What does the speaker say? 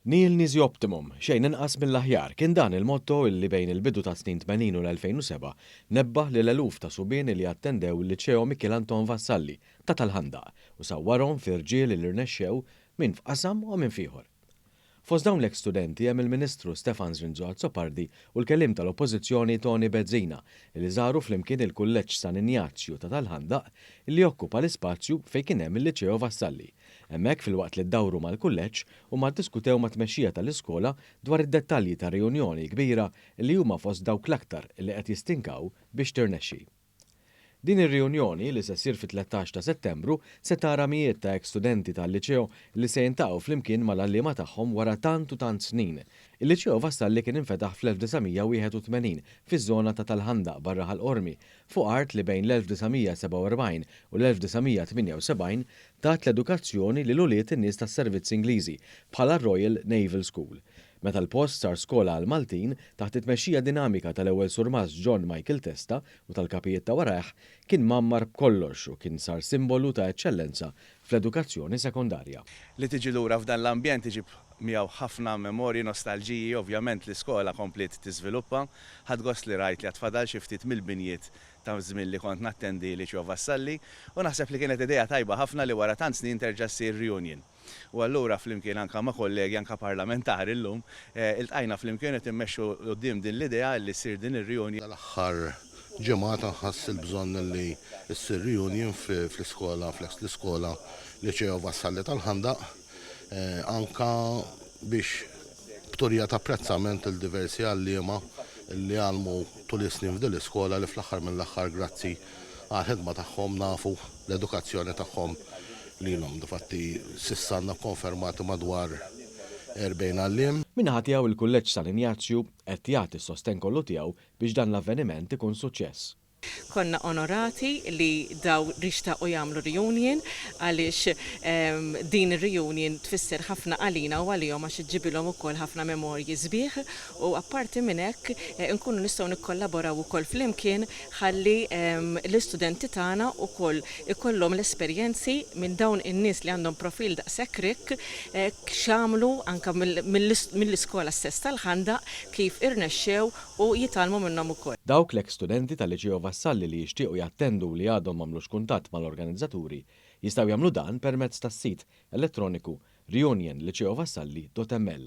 Nihil nisi optimum, xejn inqas mill-aħjar, kien dan il-motto li bejn il-bidu tas-snin tmenin u l-2007 nebbaħ lil eluf ta' subieni li attendew il-Liceo Mikiel Anton Vassalli ta' tal-Ħandaq u sawwarhom fi rġiel li rnexxew minn f'qasam u minn f'ieħor. Fost dawn l-eks studenti hemm il-Ministru Stefan Zrinzo Azzopardi u l-Kelliem tal-Oppożizzjoni Toni Bezzina li żaru flimkien il-Kulleġġ San Injazju ta' tal-Ħandaq li jokkupa l-ispazju fejn kien hemm il-Liceo Vassalli. Hemmhekk filwaqt li ddawru mal-Kulleġġ huma ddiskutew mat-tmexxija tal-iskola dwar id-dettalji tar-riunjoni kbira li huma fost dawk l-aktar li qed jistinkaw biex tirnexxi. Din ir-riunjoni, li se ssir fit-tlettax ta' Settembru, se tara mijiet ta' ex-studenti tal-Liceo li se jiltaqgħu flimkien mal-għalliema tagħhom wara tant u tant snin. Il-Liceo Vassalli kien infetaħ fl-1981 fiż-żona ta' tal-Ħandaq barra Ħal Qormi, fuq art li bejn l-1947 u l-1978 tat l-edukazzjoni lil ulied in-nies tas-servizz Ingliżi bħala r-Royal Naval School. Meta l-post sar skola għall-Maltin, taħt it-tmexxija dinamika tal-Ewwel Surmast John Michael Testa u tal-kapijiet ta' warajh, kien mgħammar b'kollox u kien sar simbolu ta' eċċellenza fl-edukazzjoni sekondarja. Li tiġi lura f'dan l-ambjent iġib miegħu ħafna memorji, nostalġiji, ovvjament l-iskola kompliet tiżviluppa. Ħadt gost li rajt li għad fadal xi ftit mill-binjiet ta' żmien li kont nattendi Liċeo Vassalli u naħseb li kienet idea tajba ħafna li wara tant snin terġa' ssir reunion. U allura flimkien anke ma' kollegi anke parlamentari llum, iltqajna flimkien qed immexxu 'l quddiem din l-idea li ssir din ir-riunjoni. Dal-aħħar ġimgħat nħass il-bżonn li ssir riunjin fl-iskola, fl-eks l-iskola Liceo Vassalli tal-Ħandaq, anke biex B'turija ta' apprezzament lil diversi għalliema li għallmu tul is-snin f'din l-iskola li fl-aħħar mill-aħħar grazzi għall-ħidma tagħhom nafu l-edukazzjoni tagħhom lilhom. Difatti s'issa għandna kkonfermati madwar 40 għalliem. Min-naħa tiegħu il-Kulleġġ San Injazju qed jagħti s-sostenn kollu tiegħu biex dan l-avveniment ikun suċċess. Konna onorati li daw rixtaqu jagħmlu reunion għaliex din ir-reunion tfisser ħafna għalina u għalihom għax iġġibilhom ukoll ħafna memorji sbieħ u apparti minn hekk inkunu nistgħu nikkollaboraw ukoll flimkien ħalli l-istudenti tagħna ukoll ikollhom l-esperjenzi minn dawn in-nies li għandhom profil daqshekk rikk x'għamlu anke mill-iskola stess tal-Ħandaq kif irnexxew u jitgħallmu minnhom ukoll. Dawk l-eks studenti tal-Liċeo Vassalli li jixtiequ jattendu u li għadhom m'għamlux kuntatt mal-organizzaturi jistgħu jagħmlu dan permezz tas-sit elettroniku reunionliceovassalli.ml.